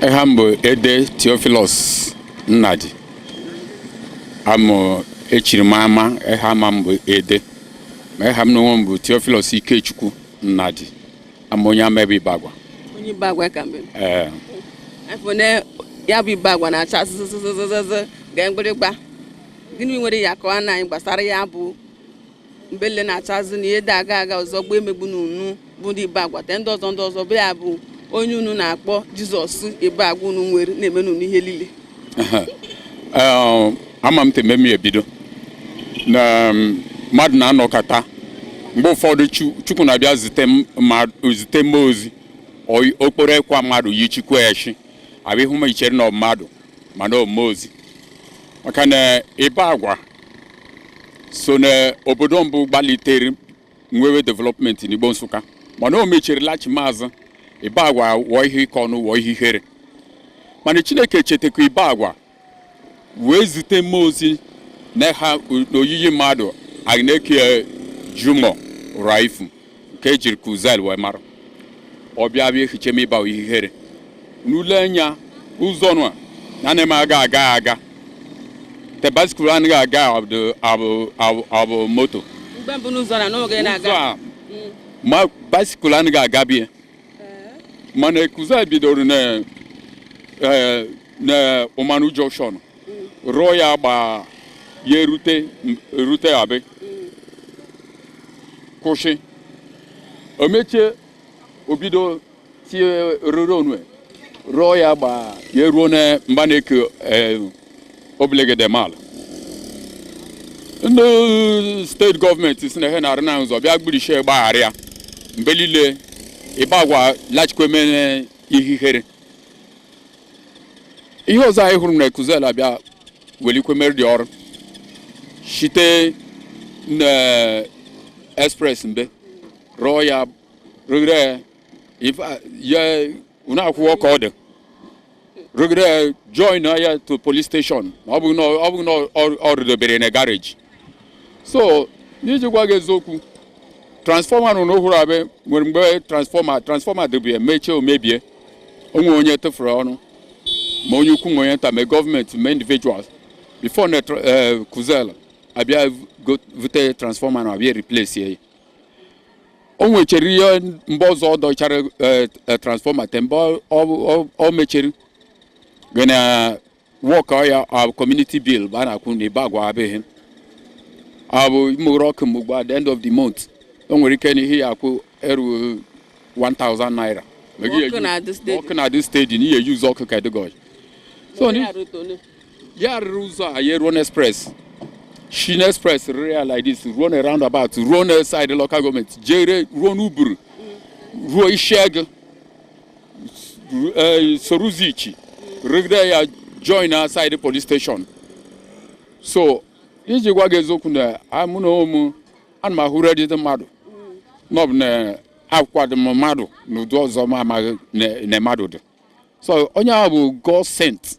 eha m bụ Ede Theophilus Nnadi amụ echiri m ama eha ama m bụ Ede ma eha m n'onwe m bụ Theophilus Ikechukwu Nnadi ama onye Amebo Ibagwa onye Ibagwa-Aka m bụ ee afọ na ya bụ Ibagwa na-acha zụzụzụzụzụ ga mgbịrịgba gịnị nwere ya ka ọ na anyị gbasara ya bụ mgbe le na-achazị na ihe dị aga aga ọzọ gbuo emegbu na unu bụ ndị Ibagwa te ndị ọzọ ndị ọzọ bụ ya bụ onye unu na-akpọ Jizọs Ibagwa unu nwere na-eme n'unu ihe niile ama m teme m ebido na mmadụ na-anọkọta mgbe ụfọdụ Chukwu na-abịa zite mmụọ ozi o kporo ekwa mmadụ yichikwa echi abịa hụ ma i chere na ọ mmadụ mana ọ mmụọ ozi maka na Ibagwa so na obodo mbụ gbalitere nwewe development n'Igbo Nsụka mana o mechiri lachima azụ Ibagwa wụọ ihe ịkọ ọnụ wụọ ihe ihere mana Chineke chetakwa Ibagwa wee zite mmụọ ozi na ha n'oyiyi mmadụ anyị na-eke Jimoh Rauf ke e jiri Kuzel wee mara ọ bịa bịa ehiche m Ibagwa ihere n'ule anya ụzọ nụ a na na-eme aga aga aga te basikụl anaghị aga abụ- abụ- abụ- abụ moto mgbe mbụ n'ụzọ na n'oge ụzọ na-aga a ma basikụl anaghị aga bie mana Kuzel bidoro na eh, na ụmanụ junction rụọ ya gba ya erute erute a bịa kwụsị o mechie o bido tie rere onwe rụọ ya gba ya eruo na mba na-eke eh, obilegede mal ndị steeti gọọmenti sị na ha na-arụ na ụzọ bịa gburichie gbaghara ya mgbe niile Ibagwa lachikweme ihe ihere ihe ọzọ anyị hụrụ na Kuzel abịa welikwe mere dị ọrụ site na express mbe rụọ ya rụgide ya ụnọ akwụkwọ ka ọ dị rụgide join ya to police station ọ bụghị na ọ rụdobere na garaji so n'iji gwa gị eziokwu transfọma nọ n'ohuru abịa nwere mgbe transfọma transfọma dị be a mechie o mebie o nwe onye tụfuru ọnụ ma onye ukwu ma onye nta ma gọọmenti ma individuals before na eh, Kuzel abịa vute transfọma na abịa replace ya o nwechara ihe mgbe ọzọ ọ dọchara eh, eh, transfọma te mgbe ọ mechiri gana wọkọ ya abụ community bill bụ a na-akwụ na Ibagwa abịghị abụ ị mụrụ ọkụ mgbe at the end of the month o nwere ike na ihe ị ya-akwụ eru 1000 naira ọkụ na-adị steady na ihe eji use ọkụ ka dịgọj so ya rụrụ ụzọ a ya ruo n'express shi n'express rụrụ ya like this ruo na roundabout ruo na side local gọọmenti jere ruo n'Uburu ruo Isiagụ eh, soro ụzọ Ichi rụgide ya join na side police station so iji gwa gị eziokwu na a- mụ na onwe m ana m ahụrụ ụdịdị mmadụ na ọ bụ na akwado mmadụ na ụdị ọzọ m amaghị na na mmadụ dị so onye ahụ bụ God sent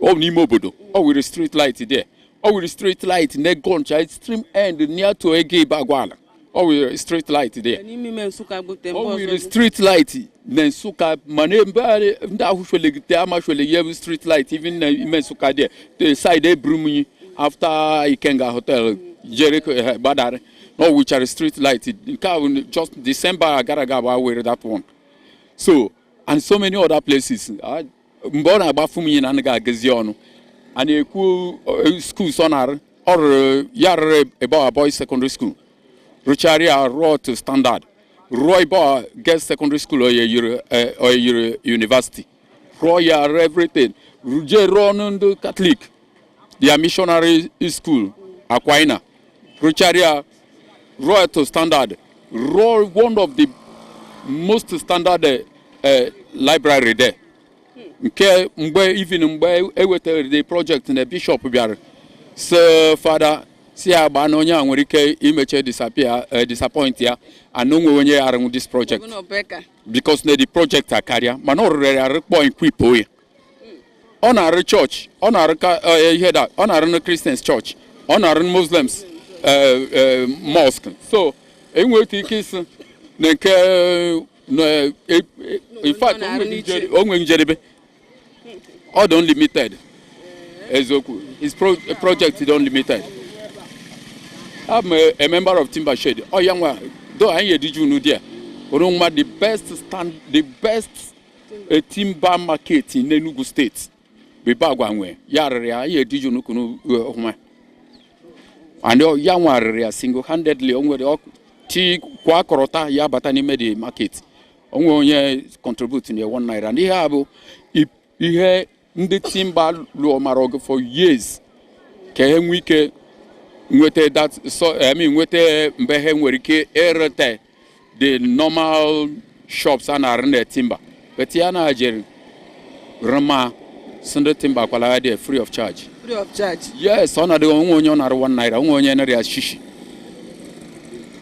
ọ n'ime obodo ọ wiri street light there ọ wiri street light na ego ncha extreme end near to egu Ibagwa ọ wiri street light there ọ wiri street light na Nsụka mana ebe ndị ahụ chwelegide ama chweleghi ebe street light even na ime Nsụka there the side Eburumiyi after Ikenga Hotel jere eh, gbadara na ọ wichara street light nke ahụ just december gara aga bụ awere that one so and so many other places. I, mgbe ọ na-agbafu m ihe na anaghị agụzi ọnụ a na-ekwu eh, schools ọ na ọ rụrụ ya rụrụ Ibagwa Boys Secondary School rụchara ya rụọ to standard rụọ Ibagwa Girls Secondary School o yiri eh, o yiri university rụọ ya rụọ everything jee rụọnụ ndị katọlik their missionary school Aquina, rụchara ya, rụọ ya to standard, rụọ one of the most standard uh, uh, library there. nke mgbe even mgbe ewetara the project na bishop bịara so fada sị ya gbaa na onye a nwere ike imeche disappear uh, disappoint ya and o nwe onye ya arụnwu this project because na the project akarịa mana ọ rụrụ ya rụkpọ equipuo ye ọ na-arụ chọọchị ọ na-arụ eh, ihe da ọ na-arụ na kristians chọọchị ọ na-arụ muslims eh, eh, mosque so e nwere ike ịsị na nke infact o nwere njedebe ọ dị unlimited eziokwu his project dị unlimited I'm a, a member of Timber Shed. ọ ya nwa Though ihe dịju na there. Ọ rụ mma, the best stand, the best eh timber market n'Enugu steeti bụ Ibagwa nwe ya rụrụ ya ya ediju n'ukunu ọhụma and ọ- ya nwa rụrụ ya single handedly o nwere ọkụ chi kwa akọrọta ya bata n'ime the market o nwe onye contribute na one naira n'ihe a bụ i- ihe ndị timba lụọ mara ọgụ for years ka ha nwee ike nweta that so I mean nweta mbe ha nwere ike ereta the normal shops a na-arụ na timba but ya nwa jere rụma sị ndị timba kwala there free of charge free of charge yes o nweghị onye ọ nara one naira o nweghị onye nara ya shishi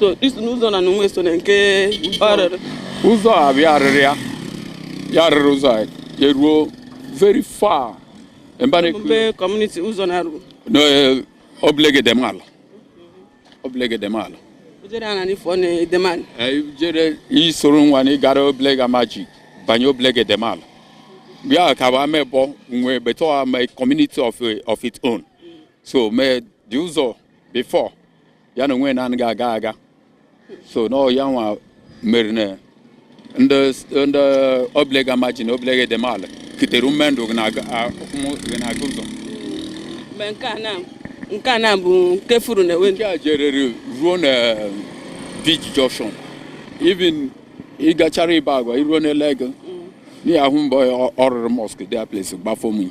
so isi n'ụzọ na n'onwe so na nke ọ rụrụ ụzọ a bịa arụrụ ya ya rụrụ ụzọ a ya ruo very far mba na-ekwu mbe kọmuniti ụzọ na-eru n'Obelegu Edem Ala Obelegu Edem Ala o jere ana n'ifo na Edem Ala Ee, jere isoro nwa na ịgara Obelegu Amaji banye Obelegu Edem Ala bịa ka wa mebe onwe beto ama community of, of its own so mee ụzọ before ya na onwe ya na-anaghị aga aga so n'ọ ya nwa mere na ndị ndị Obelegu Amaji Obelegu Edem Ala kitere ume ndụ gị na-aga a- ụmụ gị na-aga ụzọ mgbe nke a na nke a na bụ nke furu na ewe nke a jerere ruo na Beach Junction even ịgachara Ibagwa i ruo n'Alor Agu n'ị ya-ahụ mbe ọ rụrụ mọsk the place gbafọ m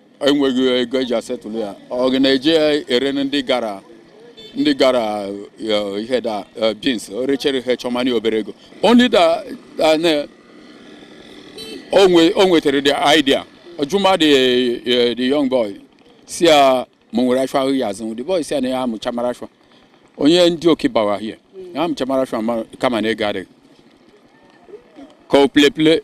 enweghị ego eji asetụlụ ya ọ na-eji ere ndị gara ndị gara eh, ihe da eh, beans o rechere ihe chọmanị obere ego only that o nwetara the idea ọ jụma the eh, the young boy sị ya ma o nwere ashwa ahụ ya azụ the boy sị ya na ya amụcha mara ashwa onye ndị oke bawa hie ya amụcha mara ashwa kama na ego adịghị ka o plepile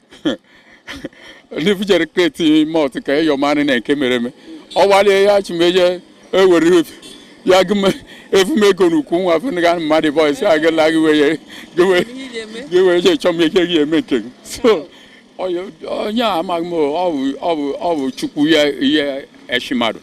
ndị vujere crate malt ka eyo manị na nke mere eme ọ gbalịa ya chimeje ewere obi ya gụme efumego n'ukwu nwa fụnụga mmadụ boy sị aga la gị wee gị wee je chọọ m ike gị eme nke gị so onye a amaghị m ọ bụ chukwu ya ihe eshi mmadụ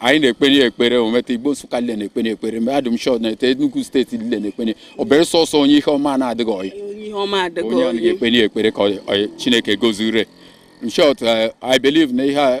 anyị na-ekpenye ekpere o meta Igbo Nsụka nile na-ekpenye ekpere mgbe a in short na-ete Enugu steeti nile na-ekpenye ekpere sọsọ onye ihe ọma na-adịghị ọyị onye na-ekpenye ekpere ka Chineke gọziere in short eh, I believe na ihe a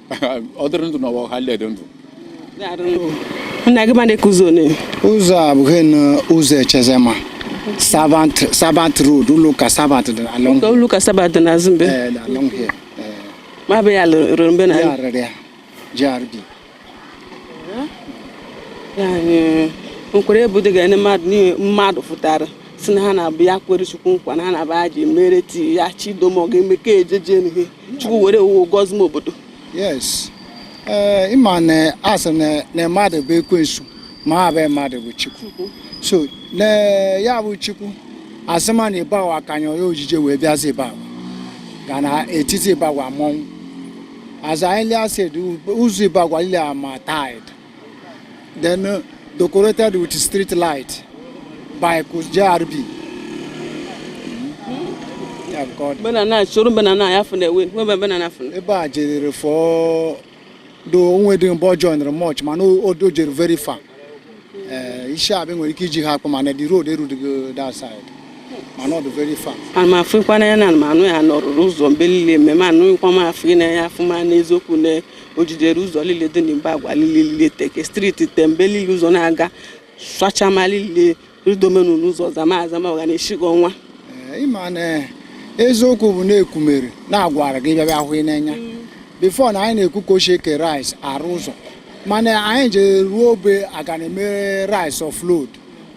ọ dịrị ndụ n'ụwa ha dị ndụ ụzọ a bụ ụzọ Echezema Sabbath Sabbath road ụlọ ụka Sabbath dị along ụlọ ụka Sabbath dị n'azụ mbe eh, along here eh. ma bụ ya rụrụ mbe na ya rụrụ ya grd nkwere ebu dị ga-enye mmadụ n'ihe mmadụ fụtara sị na ha na-abụ ya kwere Chukwu nkwa na ha na-abụ ha ji mere tii ya Chidom ọ ga-eme ka ejeje n'ihe chukwu were owuwo gọzie m obodo yes ee eh, ịma na asị na mmadụ bụ ekwensu ma ha bụ mmadụ bụ chukwu so na ya bụ chukwu asị ma na Ibagwa-Aka anya onye ojije wee bịazi Ibagwa ga na etiti Ibagwa mmọnwụ as I earlier said ụzọ Ibagwa lile ama tarred then uh, decorated with street light by JRB. Banana, showroom banana, I have the way. Where banana from? Ebe a jere for the onwe dị mbọ joinere much mana o dojere very far. Eh, isi abịa nwere ike iji ha akpụ mana the road erudigo that side. mana ọ dị very far. ana m afụkwana ya na anụ ya na ọ rụrụ ụzọ mgbe niile mmemme anụghịkwa m afụ n'anya afụ ma n'eziokwu na o jidere ụzọ niile dị n'Ibagwa niile teke street tembe niile ụzọ na-aga swachama niile ridomenu n'ụzọ zama azama ọga na-esighị ọnwa eh, ịma na eh, eziokwu bụ na-ekwumere na-agwara gị bịa bịa hụ n'anya mm. before na anyị na-ekwu ka o shi eke rice arụ ụzọ mana anyị je ruo obe aga na-emere rice offload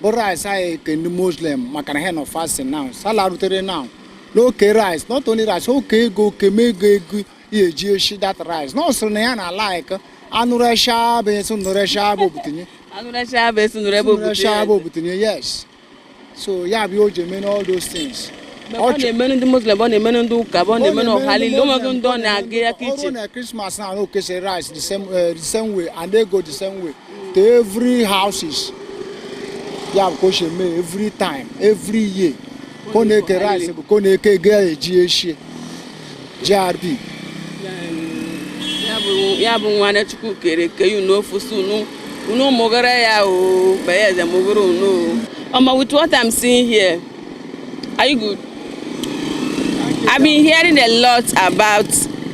bụ rice anyị ke ndị muslim maka na ha nọ fasting now sala rutere now na o ke rice not only rice o ke ego oke mego ego ya eji eshi that rice na ọ sịrị na ya na like anụresha bụ eso nụresha bụ obutinye anụresha bụ eso nụresha bụ obutinye yes so ya bụ o ji eme all those things ọ na-emenụ ndị muslim ọ na-emenụ ndị ụka ọ na-emenụ ọha niile onweghị ndị ọ na-aga ya kitchen ọrụ na Christmas na anụ o kese rice the same eh, the same way and ego the same way to every houses ya bụ ka o si eme every time every year ka ọ na-eke rice bụ ka ọ na-eke ego eji eshie JRB ya bụ nwa na Chukwu kere ke yu n'ofu si unu unu mụgara ya o baya eze mụgara unu o ọma with what I'm seeing here are you good? I've been hearing a lot about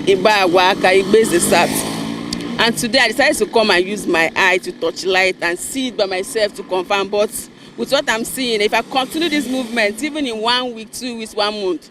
Igba Agwa Aka Igbeze South and today I decided to come and use my eye to touch light and see it by myself to confirm but with what I'm seeing if I continue this movement even in one week two weeks one month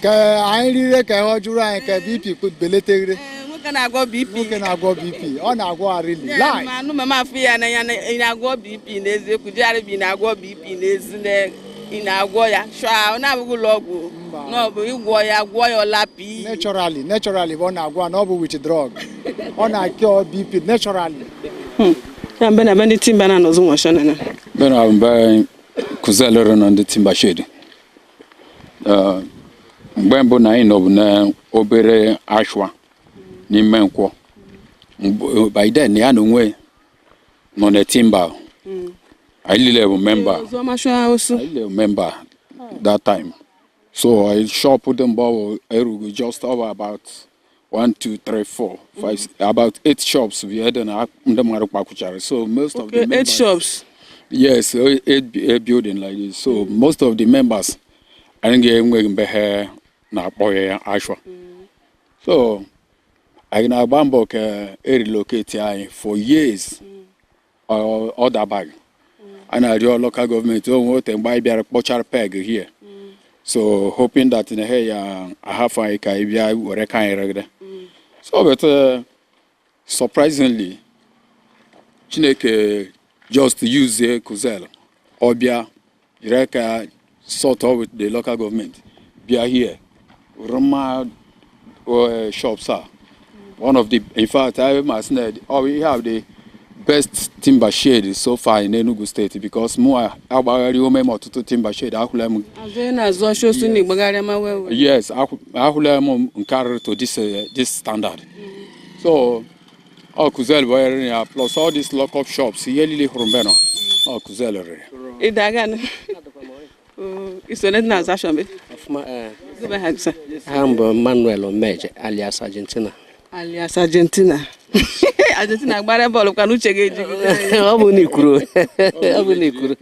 ka anyị rire ka ọ jụrụ anyị ka bp beleteghere nwoke na-agwọ bp nwoke na-agwọ bp ọ na-agwọ arili lai ma anụ mama afụ ya n'anya na ị na-agwọ bp n'eziokwu JRB na-agwọ bp n'ezi na ị na-agwọ ya sure ọ na-abụghị ụlọ ọgwụ Mba. na ọ bụ ịgwọ ya gwọ ya ọ lapụ naturally naturally bụ ọ na-agwọ na ọ bụ with drug ọ na-acure bp naturally ya mbe na be ndị timber na-anọzụ nwashọ na na bena mbe kụzi alụrụ na ndị timber shade Ee, mgbe mbụ na anyị nọbụ n'obere ashwa n'ime nkwọ Mgbe- by then ya na onwe nọ na timber anyị niile bụ member Oziọma chụọ osu. anyị niile bụ member that time so anyị shop dị mgbe ọ bụ erugo just over about one two three four five six, about eight shops bụ ebe na ndị mmadụ kpakwụchara so most of the Okay, eight members shops. yes o- eight, bu- eight building like this so most of the members adịghị enwe ebe ha na-akpọghe ashwa so anyị na-agba mbọ ka e relocate anyị for years ọ dabaghị a na-arịọ local gọọmenti o nwe ote mgbe anyị bịara kpọchara peg here so hoping that na he ya ahafụ anyị ka anyị bịa were aka anyị rụgide so but uh, surprisingly chineke just use Kuzel ọ bịa jiri aka sort out with the local government bịa here rụma uh, shops a one of the in fact I must say we have the best timber shade so far in Enugu State because mụ agbagharị ome m ọtụtụ timber shade ahụla m Azụ ị na-azụ ọsọ osu na ị gbagharịa ma wee wee. yes ahụ- ahụla m nke a rụrụ to this, uh, this standard so ọ Kuzel bụ onye rụrụ ya plus all these lock-up shops ihe niile hụrụ mbe nọ ọ Kuzel rụrụ ya Ịda aga nụ. Oo, i so na ndị na-azụ ashịa mbe. Ọfụma, eh, Gịnị bụ aha gị sir. aha m bụ Manuel Omeje alias Argentina Alias Argentina. Argentina gbara bọọlụ kwa n'uche gị ejighị. ọ bụ na i kwuru ọ bụ na i kwuru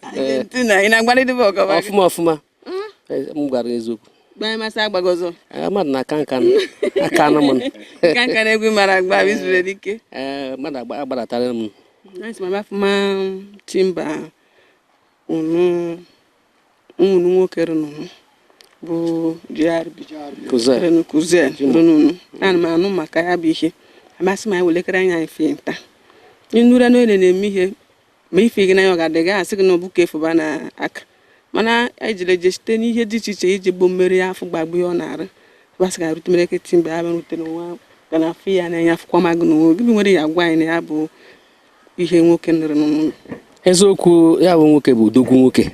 Argentina, ị na-agbalị dị bọọlụ agba. ọfụma ọfụma hmm? eh, m gwara eziokwu gbamasị agbaghị ọzọ eh, mmadụ na-aka nka aka anụ m nka nka n'egwu mara agba izuru dike eh, mmadụ agbadatara ọfụma timber unu ụmụnụ nwoke rụnụ bụ GRB Kuzel rụnụ a na m anụ maka ya bụ ihe amasị m anyị welekere anya anyị fụ ihe ntị anyị nụrụ n'onye na-eme ihe ma ị fụghị n'anya ọ ga-adị gị asị gị na ọ bụ ka efuba na aka mana anyị jere eje site n'ihe dị iche iche iji gbuo mmeri afọ gbagbu ihe ọ na-arụ basị ga rute market timber bịa rute n'ụwa ga na afụ ya n'anya afụkwa ma gị na onwe gị nwere ike agwa anyị na ya bụ ihe nwoke nụrụ n'ụlọ eziokwu ya bụ nwoke bụ odogwu nwoke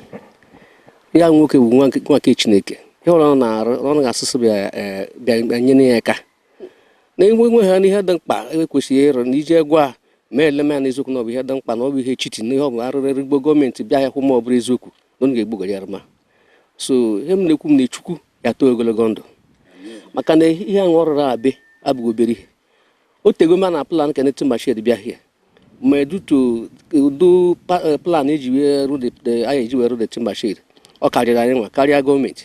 ya nwoke bụ nwa nke chineke ihe ọrụ ọ na-arụ ọrụ ga-asụsụ bịa e, nyere ya aka na enwe nwe ha n'ihe dị mkpa e kwesịrị ịrụ na iji egwu a mee eleme ya n'eziokwu na ọ bụ ihe dị mkpa na ọ bụ ihe chiti na ihe ọ bụ a rụụrụ Igbo gọọmenti bịa ya hụ ma ọ bụrụ eziokwu na ọ ga-egbugara ya ma so ihe m na-ekwu m na chukwu ya too ogologo ndụ maka na ihe ahụ ọ rụrụ ebe a abụghị obere ihe o tego a na-plan ka new timber shade bịa here ma edutu ụdị eh, plan eji wee rụ anyị eji wee rụ the timber ọ karịrị anyị nwa karịa gọọmenti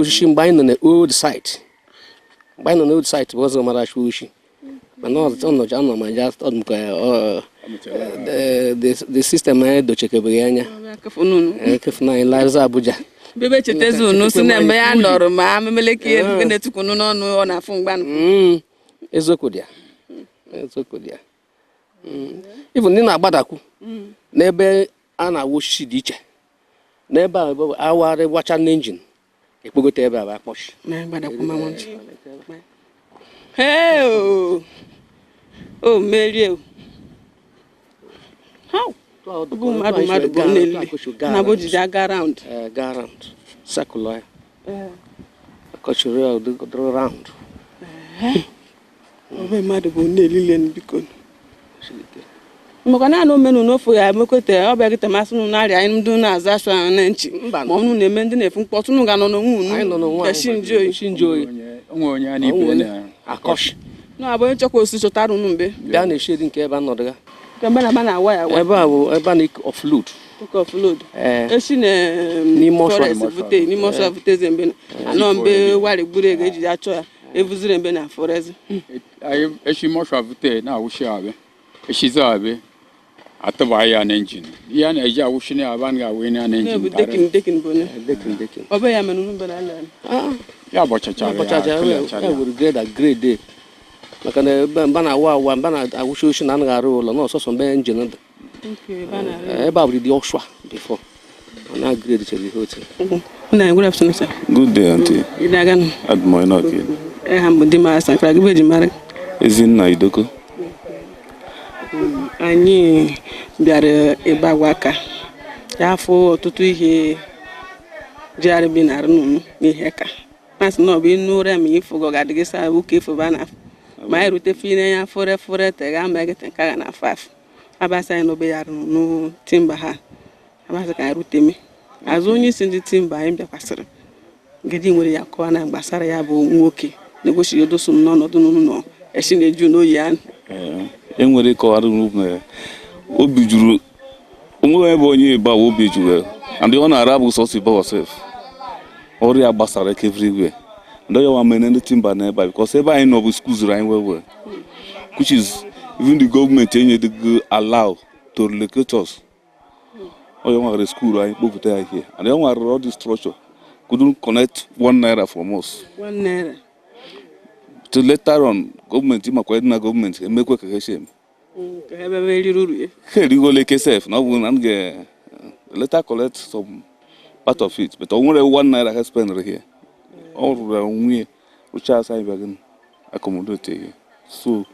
osisi mgbe anyị nọ na old site mgbe anyị nọ na old site bụ ọzọ mara achụ oshi mana ọnọji anọ ma ja ọdụmka the system anyị dochekebeghị anya ekefuna anyị larịza Abuja bebe chetezi unu si na mgbe ya nọrọ ma amemeleke ihe na-etukunu n'ọnụ ọ na-afụ mgbanụ eziokwu dị ya eziokwu dị ya even ndị na-agbadakwu n'ebe a na-awa osisi dị iche n'ebe a a warị wacha n'engine ekpogote ebe a bụ akpọchi o merie bụ mmadụ mmadụ bụ nne na bụ jiji aga round ga round circular ya akọchiri ya ụdị round ome mmadụ bụ nne elile because maka naanị omenu na ofu ya emekweta ọ bịa gịta masị nụ narị anyị ndị na-aza asụ ahụ na nchi ma ọnụ na-eme ndị na-efu mkpọtụ nụ ga nọ n'onwe unu ya shi nji oyi na abụ onye chọkwa oshi chọtara unu mbe bịa na shed nke ebe a nọdụ ya ebe a na-awa ya ebe a bụ ebe a na-offload offload esi na forest bute n'ime ọshwa bute eze mbe anọ mbe wari gburu ga e ji achọ ya evuzire mbe na forest eshi ime ọshwa vute na-awa oshi ebe a eshi zo abe atụba ya na engine ihe a na-eji awa oshi n'ebe a na-awa na na engine decking decking bụ eh, decking decking ọ bụ ya mere unu bere ala ah. ya bọchachara ya bọchachara ya were grade grade maka na mbe a na-awa awa mbe a na-awa oshi na anaghị arụ ụlọ na ọ sọsọ mbe engine dị ebe a bụ dị ọshwa before na grade chere ihe otu na good afternoon sir good day aunty ị dị aga nọ adị m ọyị na ọka elu eha m bụ Dimara Sankara gị bụ eji mara Ezinna Idoko anyị bịara Ibagwa-Aka ya afụ ọtụtụ ihe jigharị bi na-arụ n'unu n'ihe ka masị na ọ bụ inu ụra ma ịfụgo ga-adị gị saa ụka efoba na afọ ma anyị rute fine ya fore fore te ga ma gị tenka ga na afọ afọ abasa anyị n'obe ya rụrụ unu timber ha abasa ka anyị rute me azụ onye isi ndị timber anyị bịakwasịrị ngidi nwere ya kọwa na gbasara ya bụ nwoke na-egosi ya odoso m n'ọnọdụ unu nọ esi na-eju n'oyi anụ e nwere ịkọwara unu mere obi juru o nweghị ebe onye Ibagwa obi juru and ọ na-ara bụ sọsọ Ibagwa sef ọrụ ya gbasara eke everywhere and onye wa mene ndị timber n'ebe a because ebe anyị nọbu squeeze-uru anyị well well which is even the government enyedịgo allow to relocate us onye nwa ga rescue-lu anyị kpọpụta ya here and onye nwa gara all the structure couldn't collect one naira from us one naira though later on government makwa na government emekwe ka ha si eme ha erigo ole ke sef na ọ bụ na m ga later eh, collect some part of it but o nwere one naira ha spend here ọ rụrụ nwunye rụcha asa anyị bịagin accommodate here so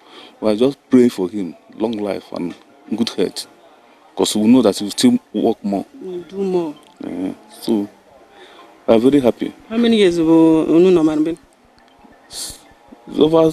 we are just praying for him long life and good health because we know that he will still work more. We'll do more. Yeah. So we are very happy. How many years ago unu move in? It's over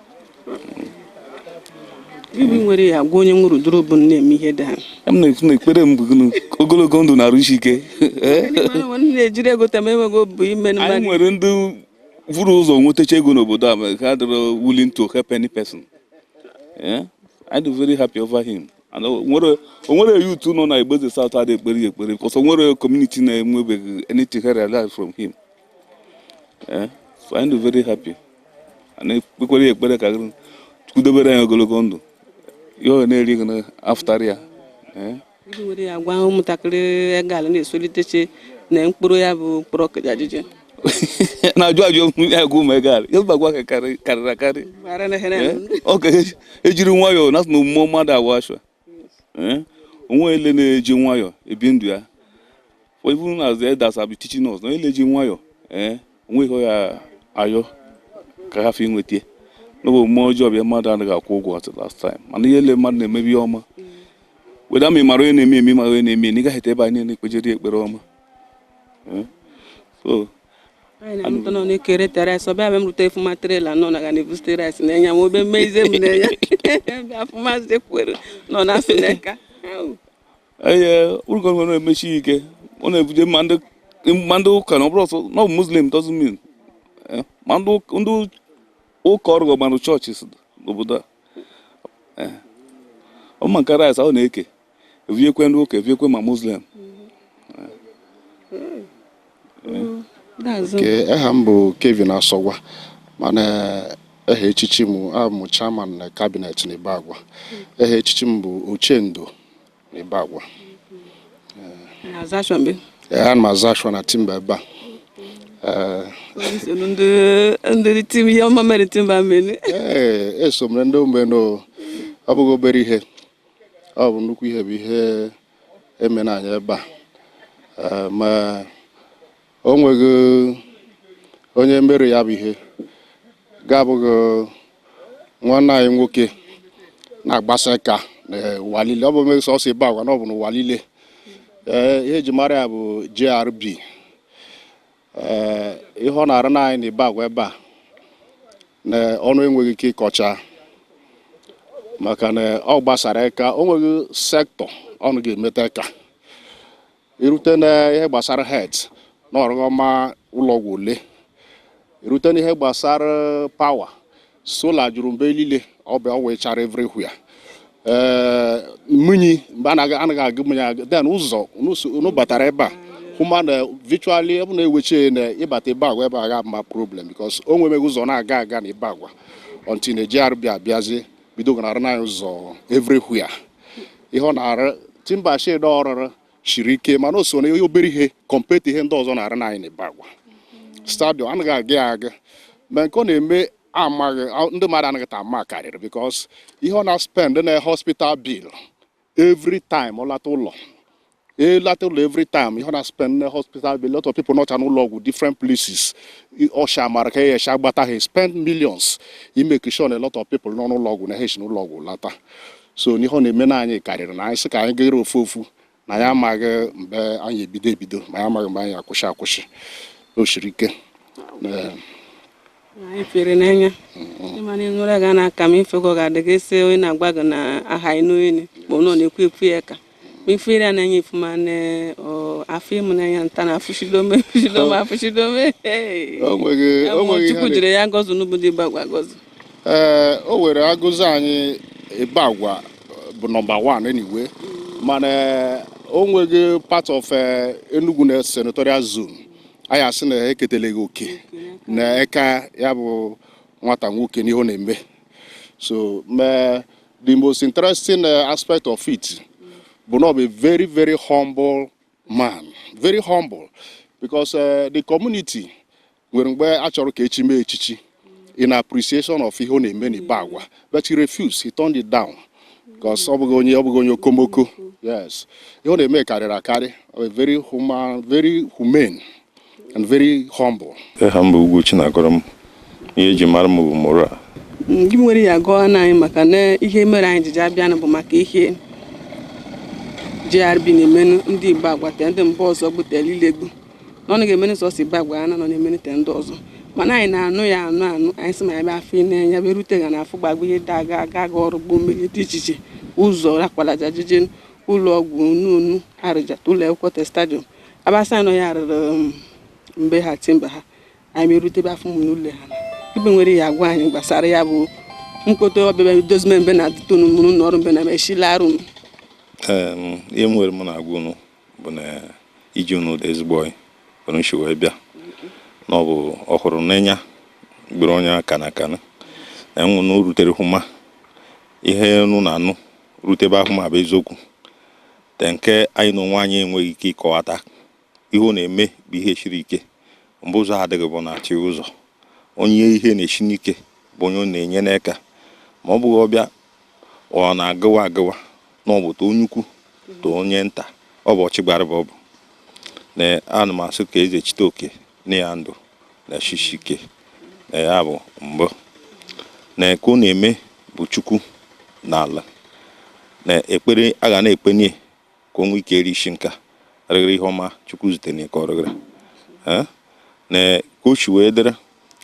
Ibi nwere ya gwa onye nwụrụ duru bụ nne m ihe dị ha. M na-ekwu na ekpere m bụ ogologo ndụ na arụ isi ike. na-ejiri ego tem enweghị obu ime anyị nwere ndị vụrụ ụzọ nwetacha ego n'obodo a ha dịrọ willing to help any person. Anyị dị very happy over him. onwere youth nọ na Igboeze South adị ekpere ya ekpere because onwere community na-enwebeghị anything he realized from him. eh, anyị dị very happy a na-ekpekwere ya ekpere ka Chukwu dobere anyị ogologo ndụ ihe ọ na-eri ego na-afụtara ya eh. iji were ya gwa ụmụntakịrị egala na-esolitechi na mkpụrụ ya bụ mkpụrụ ọkụja ajụjụ na-ajụ ajụ ya gwa ụmụ egala ya bagwa karịrị akarị eh, ọ ka ejiri nwayọọ na omume mmadụ awa ashwa eh? onye ele na-eji nwayọ ebi ndụ ya even as the elders have been teaching us na ele ji nwayọ ee eh? onweghị ya ayọ ka ha fi nweta n'oge omume ọjọọ bịa mmadụ anaghị akwụ ụgwọ at last time mana ihe ele mmadụ na-eme bụ ihe ọma weda ma ị mara onye na-eme eme mara onye na-eme na ị gaghị ete ebe anyị na-ekpejere ekpere ọma eh? so anyị na-amụta na ọ na-ekerete rice ọbịa be m rute fụma trailer nọ na ga na-evute rice na-enye m obe mmeize m na-enye bịa fụma zekwere nọ na sineka Au. ee ụlọ ọrụ na-emeshi ike ọ na-ebuje ma ndị ma ndị ụka na ọ bụrụ ọsọ na ọ bụ muslim doesn't mean eh, ma ndị ụka- ndị ụka ọ rụgo ma ndị churches n'obodo a Eh, ọ ma nke rice ahụ na-eke eviekwe ndị ụka eviekwe ma muslim aha m bụ Kevin Asọgwa mana aha echichi m abụ m chairman na cabinet na Ibagwa aha echichi m bụ Ochendo na Ibagwa ana m azụ ashwa na Timber ebe a ndị tim ihe ọma mere Timber mere eso mere ndị omenu ọ bụghị obere ihe ọ bụ nnukwu ihe bụ ihe eme na anyị ebe a ma o nweghị onye mere ya bụ ihe ga-abụghị nwanne anyị nwoke na-agbasa aka n'ụwa niile ọ bụ meghị sọsọ Ibagwa na ọ bụ n'ụwa niile ihe eji mara ya bụ JRB ee ihe ọ na-arụ na anyị na Ibagwa ebe a na ọnụ enweghị ike ịkọcha maka na ọ gbasara aka o nweghị sector ọnụ ga-emeta aka irute na ihe gbasara health na ọ rụgo ma ụlọọgwụ ole irute na ihe gbasara power sola juru mbe niile o nwuchara everywhere ee mmiri mgbe a na-aga- anaghị agụ mmiri agụ then ụzọ unu batara ebe a hụma na virtually ebe na-eweche na ịbata Ibagwa ebe a ga-ama problem because o nwemeghị ụzọ na-aga aga na Ibagwa until na JRB abịazie bido ga na-arụ na ụzọ everywhere ihe ọ na-arụ timber shed ọ rụrụ siri ike mana o so na obere ihe compare to ihe ndị ọzọ na-arụnụ anyị n'Ibagwa stadium anaghị agụ ya agụ ma nke ọ na-eme amaghị ndị mmadụ anaghị ta ama karịrị because ihe ọ na-spend na hospital bill every time ọ lata ụlọ ọ lata ụlọ every time ihe ọ na-spend na hospital bill lot of people nọcha n'ụlọ ọgwụ different places ọsha mara ka ya gbata ha spend millions i make sure na a lot of people nọ n'ụlọ ọgwụ na ha si n'ụlọ ọgwụ lata so n'ihe ọ na-eme na anyị karịrị na anyị sị ka anyị gaghere ofu ofu na anyị amaghị mgbe anyị ebido ebido ma anyị amaghị mgbe anyị akwụsị akwụsị o siri ike anyị fụrụ n'anya ịma na ị nụrụ ga na-aka m ifego ga-adị gị sị onye na-agwa gị na aha ịnụ enyi ma ọ nọ na-ekwu ekwu ya ka Ma ị fụrụ ya n'anya ị fụma na o afimu na ya ntana afụchidome afụchidome afụchidome. O nweghị o Ụmụ nweghị ihe Chukwu na- jiri ya gọzie n'obodo Ibagwa gọzie. ee o were agọzi anyị Ibagwa bụ nọmba 1 anyway mana o nweghị part of eh, Enugu na senatorial zone anyị asị na eketeleghị oke na eka ya bụ nwata nwoke n'ihe ọ na-eme so mee The most interesting uh, aspect of it bụ na ọ bụ a very very humble man very humble because uh, the community nwere mgbe a chọrọ ka echi mee echichi in appreciation of ihe ọ na-eme n'Ibagwa but he refused he turned it down because ọ bụghị onye ọ bụghị onye okomoko yes ihe ọ na-eme karịrị akarị a very human very humane and very humble. Aha m bụ Ugwu Chinagọrọm ihe eji mara m bụ Moral ndị nwere ya gụọ na anyị maka na ihe mere anyị jiji abịanụ bụ maka ihe JRB na-emenụ ndị Ibagwa te ndị mba ọzọ gbutela ilegbu na ọ na ga-emenụ sọsọ Ibagwa na ọ na-emenụ te ndị ọzọ mana anyị na-anụ ya anụ anụ anyị sị ma anyị bịa afụ n'enya bịa rute ga na-afụ gbagbo ihe dị aga aga aga ọrụ gboo mmiri dị iche iche ụzọ rakwalaja jije ụlọ ọgwụ nunu arụjata ụlọ akwụkwọ te stadium aba sị na ọ ya rụrụ um, mgbe ha timber ha anyị merutebe afụma ụlọ ha ibe nwere ya agwa anyị gbasara ya bụ mkpọta ọbịbịa dozime mbe na tonu mụrụ na ọrụ mbe na mechila arụ m Em, ihe m nwere m na-agwa unu bụ na ije unu dị ezigbo oyi were nshi wee bịa na ọ bụ ọ hụrụ n'enya gbere onye aka na aka na enwe na o rutere hụma ihe unu na-anụ rute ebe ahụ ma bụ eziokwu Te nke anyị na onwe anyị enweghị ike ịkọwata. Ihe ọ na-eme bụ ihe shiri ike. Mgbe ụzọ adịghị bụ na-achị ụzọ. Onye ihe na-eshi n'ike bụ onye ọ na-enye n'aka. Ma ọ bụghị ọbịa ọ na-agụwa agụwa na ọ bụ too onye ukwu too onye nta. Ọ bụ ọchịgbarịba ọ bụ. Na ana m asị ka Ezechiteoke. nye ya ndụ na shishike na ya bụ mbụ na nke ọ na-eme bụ chukwu na ala na ekpere a ga na-ekpe nye ka o nwee ike eri ishi nka rịgịrị ihe ọma chukwu zitere ka ọ rịgịrị na ka o shi wee dịrị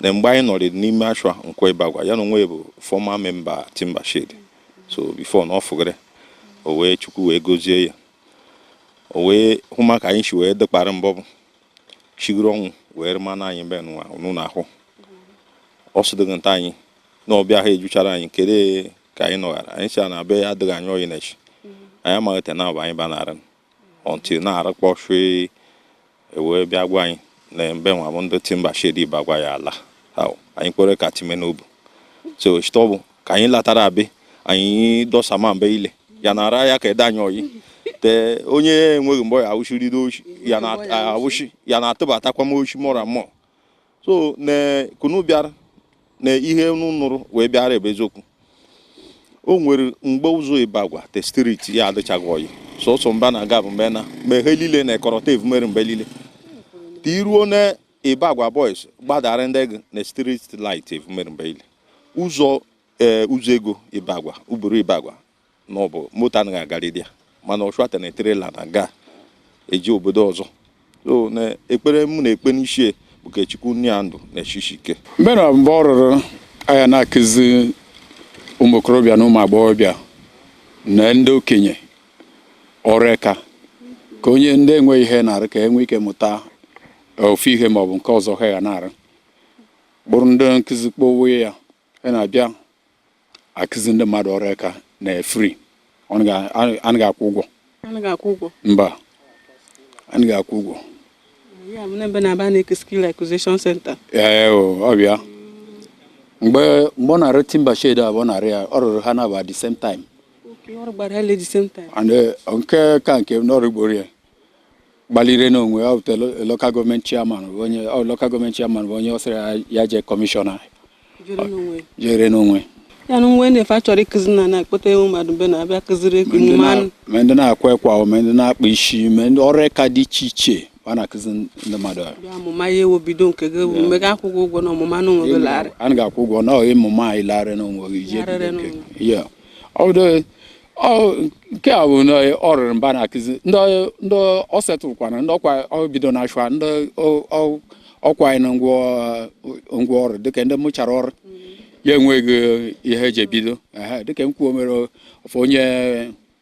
na mgbe anyị nọrị n'ime ashwa Nkwọ Ibagwa ya na onwe bụ former member timber shade so before na ọ fụgịrị o wee chukwu wee gozie ya o wee hụma ka anyị shi wee dịkpara mbọ bụ chigoro ọnwụ wee rịma na anyị mbe nwa unu na-ahụ ọ sịdịghị nta anyị na ọbịa ha ejuchara anyị kere ka anyị nọghara anyị sị na be ya adịghị anyị oyi na-eshi anyị amaghị te na abụ anyị banarị until na-arụkpọ shwe e wee bịa gwa anyị na mbe nwa bụ ndị timber shade Ibagwa ya ala anyị kwere ka time n'obu so chitọbụ ka anyị latara be anyị dọsama mbe ile ya na ara ya ka adị anyị oyi te onye enweghị mgbe ya awụshiri n'oshi ya na awụshi ya na atụbatakwa m oshi mọra mọ so na ka unu bịara na ihe unu nụrụ wee bịara ebe eziokwu o nwere mgbe ụzọ Ibagwa te street ya adịchaghị oyi sọsọ mba na aga bụ mbe na ma ihe niile na-ekọrọta evumere mbe niile ka iruo na Ibagwa boys gbadara ndị ego na street light evumere mbe ile ụzọ ee ụzọ ego Ibagwa uburu Ibagwa na ọ bụ moto anaghị agarịdị ya mana ọchụata na trailer na-aga eji obodo ọzọ so na ekpere mụ na-ekpe n'ishi bụ ka Chukwu nye ya ndụ na eshishi ike mbe na mbe ọ rụrụ a ya na-akụzi ụmụ okorobịa na ụmụ agbọghọbịa na ndị okenye ọrụ eka ka onye ndị enweghị ihe na-arụ ka e nwee ike mụta ofu ihe ma ọ bụ nke ọzọ ha ga na-arụ bụrụ ndị nkụzi kpọwe ya ha na-abịa akụzi ndị mmadụ ọrụ eka na free anaghị akwụ ụgwọ mba anaghị akwụ ụgwọ ee ọbịa mgbe ọ na-arụ timber shade abụọ narị ya ọ rụrụ ha na-aba the same time nke ka nke n'ọrụ ugboro ya gbalire n'onwe ọ bụtara local government chairman onye local government chairman bụ onye ọ sịrị ya jee commissioner jere n'onwe ya na nwe na-efe a chọrọ ịkụzi na na-akpọta ewu mmadụ mbe na-abịa kụziri ego mmanụ ma ndị na-akwa ekwa ma ndị na-akpa isi ma ndị ọrụ eka dị iche iche a na-akụzi ndị mmadụ ọmụma ya ewu bido nke gị ewu mega akwụ ụgwọ na ọmụma na onwe gị larị a ga-akwụ ụgwọ na ịmụma anyị larị na onwe gị Ọdụ- ọ- nke a bụ na ọ rụrụ mbe na akụzi ndị ndị ọ settle kwana ndị ọkwa ọ bido na-share ndị ọ- ọ- ọkwa anyị na ngwa ngwa ọrụ dịka ndị mụchara ọrụ ya enweghị ihe eji ebido Ehe, dịka nke o mere ofu onye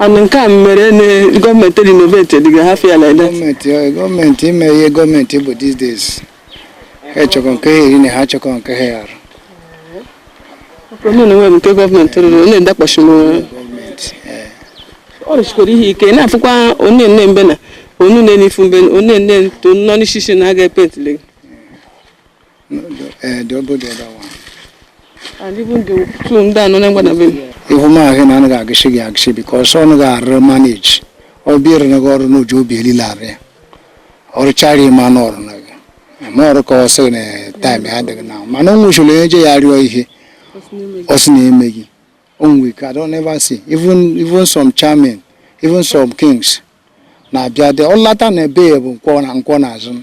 ọnụ nke a mere na gọọmenti renovate dịga ha fịa like that gọọmenti ọ- gọọmenti ime ihe gọọmenti bụ these days ha chọkọ nke ha eri na ha chọkọ nke ha arụ omenala nwere nke gọọmenti rụrụ ọ na-edakpọchi m gọọmenti ee. ọ rụchikwara ihe ike na-afụkwa onye nne mbe na onye nne n'ifu mbe onye nne nto nọ n'ishishi na aga epentịle Eh, the old the other one. And even the two ndị anọ na-enwe na be m. Ihu m ahụ na anaghị agịsị gị agịsị because ọ naghị arụ manage ọ bịara na gị ọrụ n'uju obi elile arụ ya ọrụ charity ma anụ ọrụ na gị ma ọrụ ka ọ sị na taịm ya adịghị na mana o nwechara onye je ya rịọ ihe ọ sị na eme gị o nwe ike I don't ever see even even some chairmen even some kings na-abịa dị ọ lata na ebe ya bụ nkwọ na nkwọ n'azụ m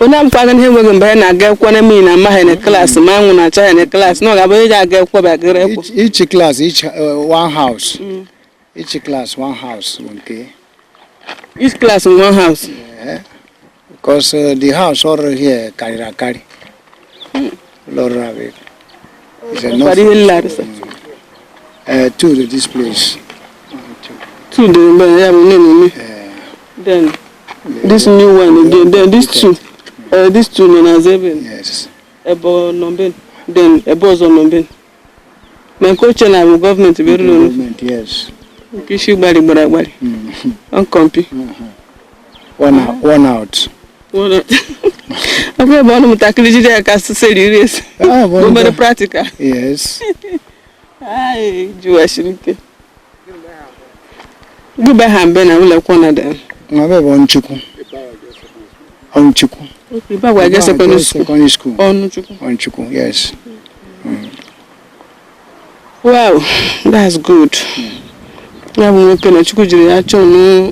onye agwaghị ihe enweghị mgbe ya na-aga akwụkwọ na mmiri na-ama ya na klaasị ma anwụ na-acha ya na klaasị na ọ ga-abụ onye ji aga ekwe bagara ekwe each class each uh, one house each class one house okay each class in one house because uh, the house ọ rụrụ here karịrị akarị Lọrọ abịa. It's a Nwekwara ihe nlarịsa. Uh, two to this place. Two dị mbe ya bụ nne na nne. Then this new one again. Then this two. Uh, this two nọ n'azụ ebe. Yes. Ebụọ nọ mbe. Then ebụọ ọzọ nọ mbe. maka e che na bụ gọọmenti bụ eruru n'ofu Gọọmenti, yes. mpi isi gbalị gbara agbalị ọkọmpi One out. One out. ọ bụrụ ebe ụmụntakịrị jide ya ka esi esi iri esi Ah, bụ obere ndị- practical Yes. Ai, jụwachiri ike Gịbe ha mbe na ụlọ akwụkwọ na dị. Ma be bụ Ụmụchukwu. Ụmụchukwu. Ibe agwa ga secondary school. Secondary school. Ụmụchukwu. Ụmụchukwu, yes. Mm. Wow, that's good. Ya bụ nwoke na Chukwu jiri ya chọọ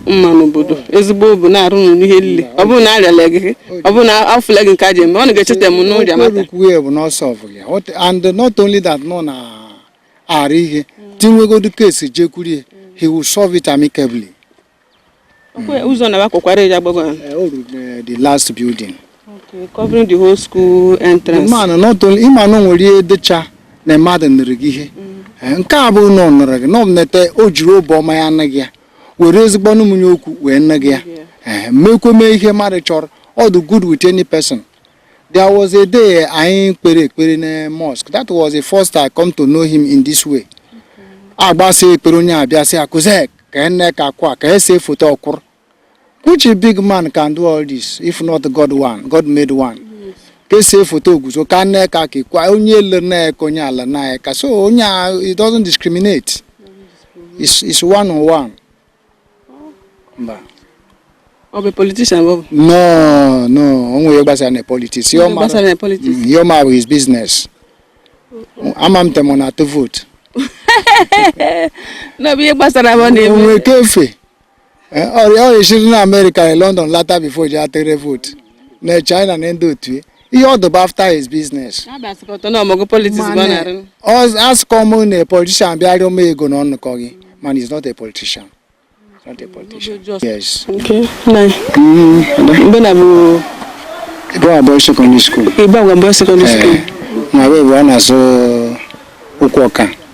mma n'obodo ezigbo obu na-arụ n'ụlọ ihe niile ọ bụrụ na ọ rụlaghị ọ bụrụ na ọ fụlaghị nke a ji eme ọ na-echeta m n'ụja mata. Okwu ya bụ na ọ solve ya and not only that nọ na aghara ihe tinwegodu ka esi jekwuru ya he will solve it amicably Okwe- ụzọ na akwakwara ya gbagwa Eh, o ruru eh, the last building Okay, covering the whole school the entrance mana not only ịma na o nwere ihe dịcha na mmadụ nụrụ gị ihe Eh, nke a bụ na ọ nụrụ gị na ọ nete o jiri obi ọma ya nụ gị ya were ezigbo ọnụ mụnye okwu wee nụ gị ya Eh, mekwe mee ihe mmadụ chọrọ ọ dị good with any person There was a day anyị kpere ekpere na mosque. That was the first I come to know him in this way. Agbasa ekpere onye abịa sị akụze ka ene ka akwa ka e see foto ọ kwụrụ. Which a big man can do all this if not God one, God made one. Ka e see foto o guzo ka nne ka ka kwa onye ele na ka onye ala na ka so onye a it doesn't discriminate. It's, it's one on one. mba ọ bụ politician bụ no no o nweghị ihe gbasara na politics ihe ọ ma bụ his business ama m te ọ na-atụ vote n'obi ihe gbasara bụ na-eme onwe kefe eh, ọrịa ọrịa esiri na america na london lata before e ji atụ vote na china na ndị otu ihe ọ dụ bụ after his business asụkọ m na a politician bịa rịọ m ego na ọnụkọ gị man is not a politician not a politician yes okay mgbe na bụ Ibagwa secondary school Ibagwa secondary school na wee bụ a na-azụ ụkwụ ọka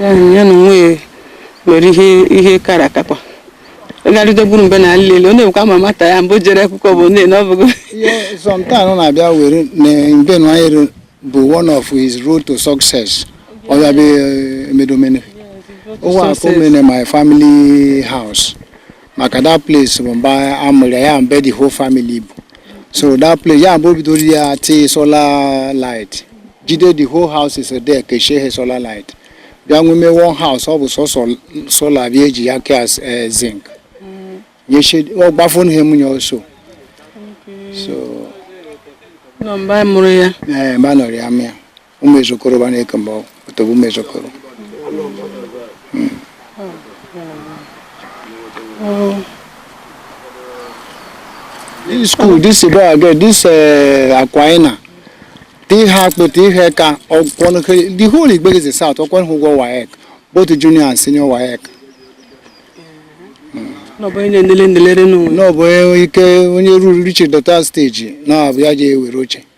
ya na onwe ya mere ihe ihe kara akakwa ịgarịde gburu mbe na nlele ọ na-ekwe ama mata ya mbụ jere akwụkwọ bụ nne na ọ bụ sometimes na-abịa were na mbe na anyị bụ one of his road to success ọ ya bụ emedomene ụwa akụ mene my family house maka that place bụ mbe a mụrụ ya ya mbe the whole family bụ so that place ya mgbe o bidoro ya tee solar light jide the whole houses there kechie ha solar light bịa nweme one house ọ bụ sọsọ solar bịa eji ya kea zinc nyechie ọ gbafonu ha emunye also so nọ mbe a mụrụ ya ee mbe a nọrọ ya mụa ụmụ ezokoro ba na-eke mgbe ọtọbụ ụmụ ezokoro this school this boy again this uh, akwaina ti ha akpụta ihe ka ọkwọnụ kere the whole Igbo-Eze South ọ kwụnụ ha ụgwọ waec both junior and senior waec n'ọbụ onye na-enele ndelere n'ụwa n'ọbụ ike onye ruru reach that stage na-abụ ya ji ewere oche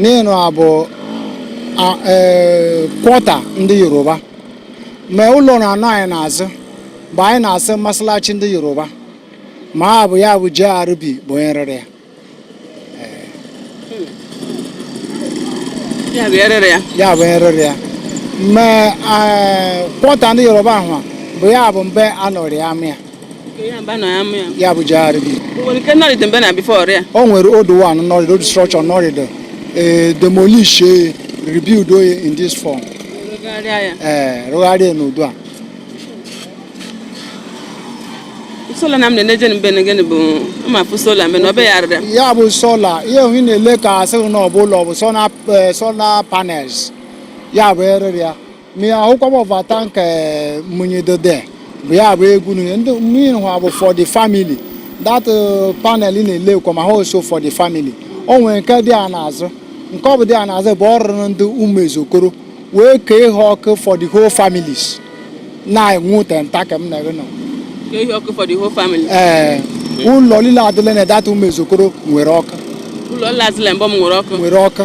n'ịnụ abụ e, quarter ndị yoruba ma ụlọ na-anọ anyị n'azụ mgbe anyị na-asị masalachi ndị yoruba ma ha bụ ya bụ JRB bụ onye rụrụ ya ya bụ rụrụ ya ya bụ onye rụrụ ya ma e, quarter ndị yoruba ahụ bụ ya bụ mbe a nọrọ amụ ya ya bụ JRB o nwere old one nọrịdị old structure nọrịdị eh, demolish eh, rebuild oye in this form ee rụgharịa eh, n'ụdị a sola na m na-eneje mbe na gịnị bụ mmafu sola mbe na ọ bịagharịrị m ya bụ sola ihe ohi na-ele ka asịrị na ọ bụ ụlọ bụ sola eh, panels ya bụ erere ya ma ị ahụkwa m ọva tank munyi dode bụ ya bụ egwu nunye ndị mmiri hụ bụ for the family that uh, panel na-ele kwa ma ha also for the family o nwere nke dị a n'azụ nke ọ bụ dị a n'azụ bụ ọ rụrụ ndị ụmụ Ezokoro wee kee ha ọkụ for the whole families na-enwu tenta ka m na-ere nọ kee ha ọkụ for the whole family. ee ụlọ niile adịla na data ụmụ Ezokoro nwere ọkụ Ụlọ nla azịla mbọ m nwere ọkụ. nwere ọkụ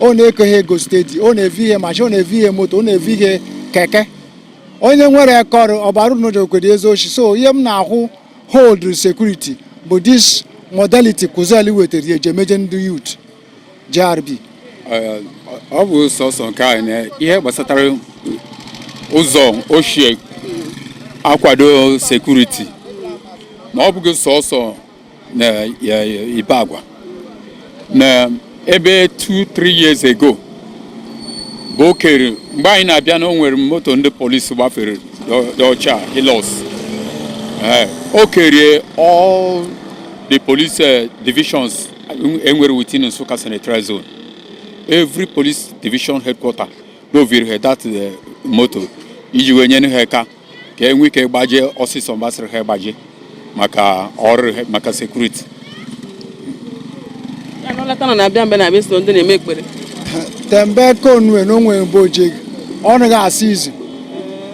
ọ na-eke he ego steady ọ na-evu he machine ọ na-evu he moto ọ na-evu he keke onye nwere eka ọrụ ọbara n'o jekwede ezi oshi so ihe m na-ahụ hold security bụ this modality Kuzel wetara eji emeje ndị youth JRB ọ bụ sọsọ nke anyị na ihe gbasatara ụzọ o shi akwado sekuriti ma ọ bụghị sọsọ na Ibagwa na ebe 2-3 years ago bụ o kere mgbe anyị na-abịa na o nwere moto ndị polisi gbafere dị ọcha Hilux eh, o kerie all the police eh, divisions enwere within Nsukka Senatorial Zone every police division headquarter n'o vuru ha that eh, moto iji wee nyere ha aka ka enwe ike gbaje ọsịsọ mgbe asịrị ha gbaje maka ọrụ maka sekuriti tembe konue na onwe mgbe oje ọ naghị asị izu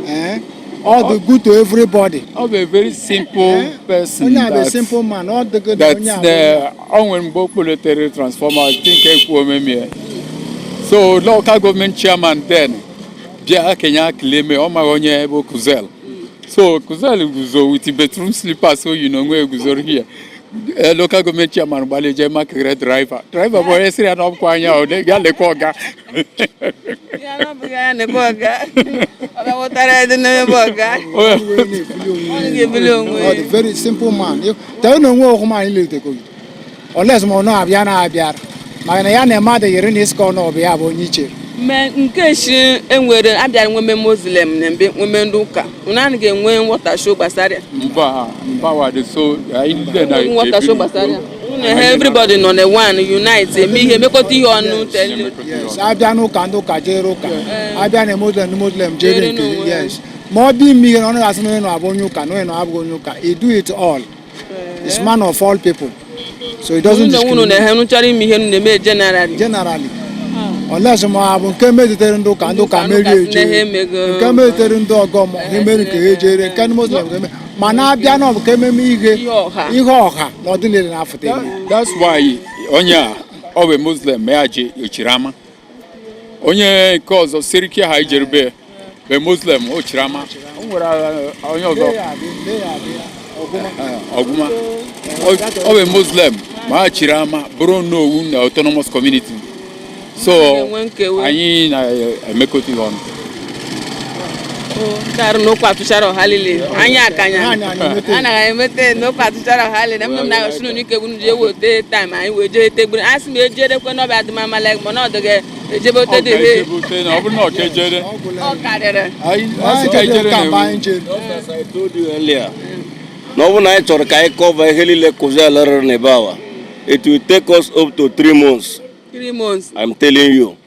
eh? ọ dị good to everybody. Ọ bụ a very simple eh? person. Onye abụ a simple man, ọ dị good na onye abụ. That ọ nwere mgbe o kpọletere transformer, I think ekwu omemie. So local government chairman then bịa kenye akịla eme ọ maghị onye bụ Kuzel so Kuzel guzo with bedroom slippers o yi na onwe eguzoro hie Eh, local gọọmenti chairman gbalị jee makụrụ draiva draiva bụ onye sịrị ya na ọ bụkwa anya ọ dị- ya lekwa ọga Ya na ọ bụghị anya na-abụ ọga ọ bịa wụtara ya dị n'ebe ọga ọ ga-ebuli onwe ya ọ dị very simple man. Tell no nwe ọkụ ma anyị lere tekọgide. unless ma onye ọbịa na abịara maka na ya na mmadụ yiri na iska onye ọbịa bụ onye iche me nke shi enwere abịara nweme muslim na mbe nweme ndị ụka unu anaghị enwe nghọtasho gbasara ya mba mba wa dị so anyị ndị na Enweghị nghọtasho gbasara ya unu ehe everybody nọ na one unite eme ihe mekọta ihe ọnụ tele yes abịa n'ụka ndị ụka jere ụka abịa na muslim ndị muslim jere Jere nke n'onwe ha. yes ma ọ bịa ime ihe na ọ naghị asị na onye nọ abụ onye ụka na onye nọ abụghị onye ụka he do it all is man of all people so he doesn't discriminate. na-ehe nụchara ime ihe na-eme generally generally hmm. unless ma ọ bụ nke metụtara ndị ụka ndị ụka merie eje nke metụtara ndị ọgọ mmụọ ihe mere nke ha ejere nke ndị muslim ga-eme ma na-abịa na ọ bụ ka ememe ihe ihe ọha na ọdịnihu na-afụta that's why onye a ọ bụ muslim ma ya ji o chiri ama onye nke ọzọ seriki ha ijerube bụ muslim o chiri ama o nwere uh, onye ọzọ ọgụma ọ bụ muslim ma ha chiri ama bụrụ onowu na autonomous community so anyị na-emekọta ihe ọnụ ndị arụ na okwu atụchara ọha lile anyị akanya anaghị emete na okwu atụchara ọha lile mgbe m na-agọsi n'ụlọ ike gwunu ji ewote time anyị wee jee tegburu a sị m ejerekwe n'ọba adịmama leg mana ọ dịghị ejebe ote dị he ọ bụrụ na ọ kejere ọ karịrị na ọ bụrụ na anyị chọrọ ka anyị kọva ihe niile kụzi ala rere n'Ibagwa it will take us up to three months three months I'm telling you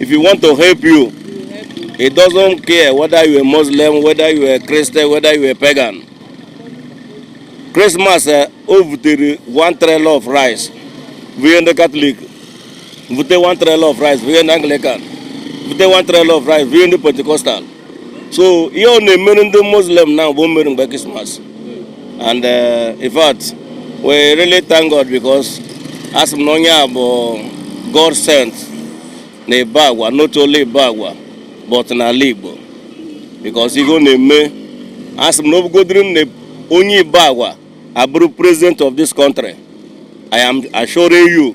If you want to help you, it doesn't care whether you are Muslim, whether you are Christian, whether you are pagan. Christmas eh, o butere one trailer of rice vụnye ndị Catholic vụte one trailer of rice vụnye ndị Anglican vụte one trailer of rice vụnye ndị Pentecostal so ihe ọ na-emere ndị muslim na bụ o mere mgbe krismas and uh, in fact we really thank god because asị m na onye a bụ god sent na Ibagwa not only Ibagwa but n'ala igbo because ihe ọ na-eme asị m na ọ bụgodiri na onye Ibagwa abụrụ president of this country i am assuring you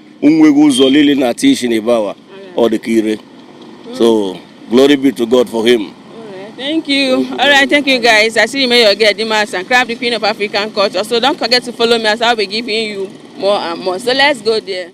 onweghị ụzọ lili na ati isi na ebe awa ọ dị ka ire so glory be to God for him Thank you. All right, thank you guys. I see you made your get the mass and crab the queen of African culture. So don't forget to follow me as I'll be giving you more and more. So let's go there.